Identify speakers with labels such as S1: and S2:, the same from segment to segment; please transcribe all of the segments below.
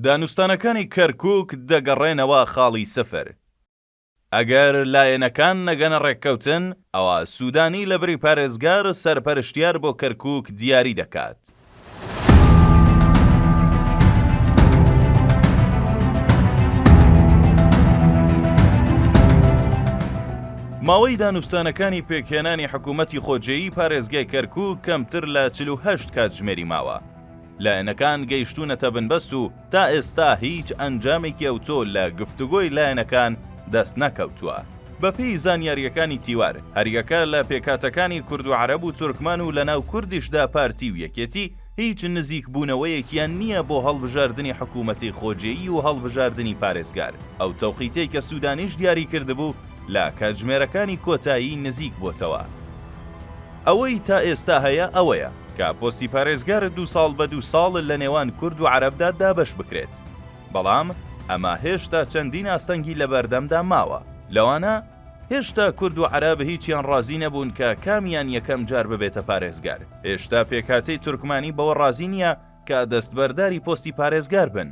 S1: دانوستانەکانی کەرکوک دەگەڕێنەوە خاڵی سفر. ئەگەر لایەنەکان نەگەنە ڕێککەوتن، ئەوا سودانی لە بری پارێزگار، سەرپەرشتیار بۆ کەرکوک دیاری دەکات. ماوەی دانوستانەکانی پێکهێنانی حکومەتی خۆجێی پارێزگای کەرکوک کەمتر لە چل و هەشت کاتژمێری ماوە. لایەنەکان گەیشتوونەتە بنبەست و تا ئێستا هیچ ئەنجامێکی ئەوتۆ لە گفتوگۆی لایەنەکان دەست نەکەوتووە. بە پێی زانیارییەکانی تیوار، هەریەکە لە پێکهاتەکانی کورد و عەرەب و تورکمان و لە ناو کوردیشدا پارتی و یەکێتی هیچ نزیک بوونەوەیەکیان نییە بۆ هەڵبژاردنی حکوومەتی خۆجێی و هەڵبژاردنی پارێزگار. ئەو تەوقیتەی کە سوودانیش دیاری کردبوو لە کاتژمێرەکانی کۆتایی نزیک بۆتەوە. ئەوەی تا ئێستا هەیە ئەوەیە، کە پۆستی پارێزگار دوو ساڵ بە دوو ساڵ لە نێوان کورد و عەرەبدا دابەش بکرێت، بەڵام ئەمە هێشتا چەندین ئاستەنگی لە بەردەمدا ماوە، لەوانە، هێشتا کورد و عەرەب هیچیان ڕازی نەبوون کە کامیان یەکەم جار ببێتە پارێزگار، هێشتا پێکهاتەی تورکمانی بەوە ڕازی نییە کە دەستبەرداری پۆستی پارێزگار بن،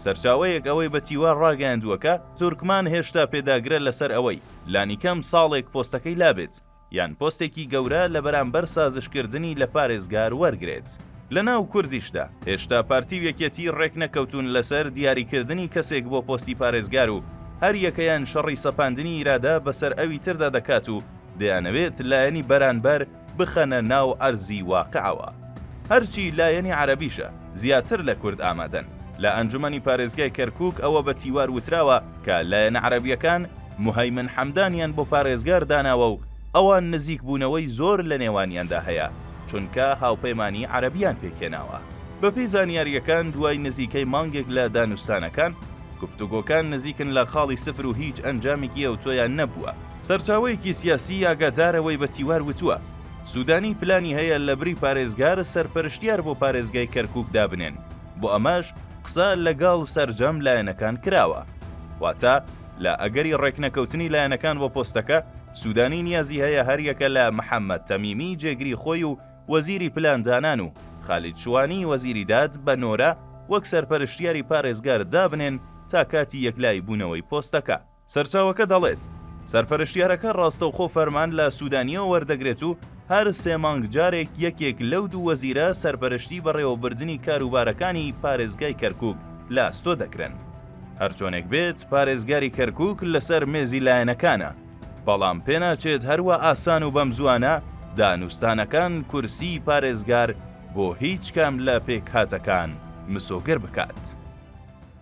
S1: سەرچاوەیەک ئەوەی بە تیوا ڕاگەیاندووە کە تورکمان هێشتا پێداگرە لەسەر ئەوەی لانیکەم ساڵێک پۆستەکەی لابێت. یان پۆستێکی گەورە لە بەرامبەر سازشکردنی لە پارێزگار وەرگرێت. لە ناو کوردیشدا، هێشتا پارتی و یەکێتی رێکنەکەوتوون لەسەر دیاریکردنی کەسێک بۆ پۆستی پارێزگار و هەر یەکەیان شەڕی سەپاندنی ئیرادە بەسەر ئەوی تردا دەکات و دەیانەوێت لایەنی بەرانبەر بخەنە ناو عەرزی واقعەوە. هەرچی لایەنی عەرەبیشە، زیاتر لە کورد ئامادەن. لە ئەنجومەنی پارێزگای کەرکوک ئەوە بە تیوار وتراوە کە لایەنە عەرەبییەکان موهەیمن حەمدانیان بۆ پارێزگار داناوە و ئەوان نزیکبوونەوەی زۆر لە نێوانیاندا هەیە، چونکە هاوپەیمانیی عەرەبییان پێکهێناوە. بەپێی زانیارییەکان، دوای نزیکەی مانگێک لە دانوستانەکان، گفتوگۆکان نزیکن لە خاڵی سفر و هیچ ئەنجامێکی ئەوتۆیان نەبووە. سەرچاوەیەکی سیاسی ئاگادارەوەی بە تیوار وتووە، سوودانی پلانی هەیە لەبری پارێزگار، سەرپەرشتیار بۆ پارێزگای کەرکووک دابنێن. بۆ ئەمەش قسە لەگەڵ سەرجەم لایەنەکان کراوە. واتە لە ئەگەری ڕێکنەکەوتنی لایەنەکان بۆ پۆستەکە، سوودانی نیازی هەیە هەریەکە لە محەممەد تەمیمی جێگری خۆی و وەزیری پلاندانان و خالید شوانی وەزیری داد بە نۆرە وەک سەرپەرشتیاری پارێزگار دابنێن تا کاتی یەکلاییبوونەوەی پۆستەکە. سەرچاوەکە دەڵێت، سەرپەرشتیارەکە ڕاستەوخۆ فەرمان لە سوودانییەوە وەردەگرێت و هەر سێ مانگ جارێک یەکێک لەو دوو وەزیرە سەرپەرشتی بەڕێوەبردنی کاروبارەکانی پارێزگای کەرکووک لە ئەستۆ دەکرێن. هەرچۆنێک بێت، پارێزگاری کەرکووک لەسەر مێزی لایەنەکانە، بەڵام پێناچێت هەروا ئاسان و بەمزووانە دانوستانەکان کورسیی پارێزگار بۆ هیچ کام لە پێکهاتەکان مسۆگەر بکات.